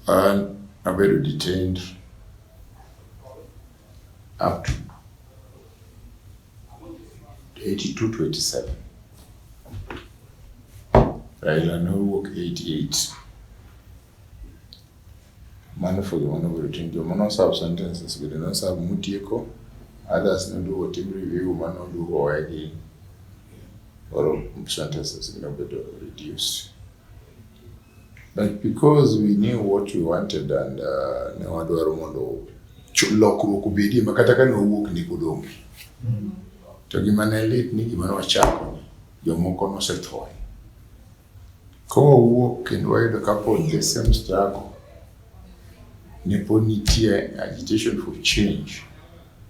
An abedo detained up to 82 to 87. Raila nowuok 88. Mano for the one of routine joma no serve sentences bende no serve mutieko others noduogo tim review mano duogo owegi or sentences nobedo reduced. But because we knew what we wanted and uh, ne wadwaro mondo lokruok obedie ma kata ka ne wawuok ni pod onge. To gima ne lit ni gima ne wachako jomoko nosethoe. Ka wawuok kendo wayudo ka pod the same struggle ne pod nitie agitation for change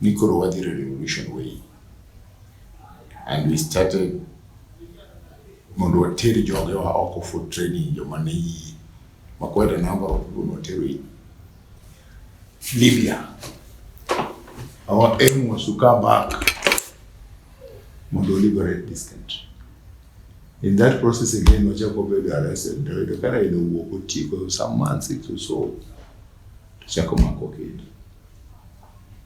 ni koro wadhi revolution way and we started mondo water joge wa oko for training joma ne yie ma quite a number of people notero in Libya our aim was to come back mondo liberate this country In that process again, nochako bedo arrested, to yudo ka Raila owuok otieko some months or so, to chako mako kendo.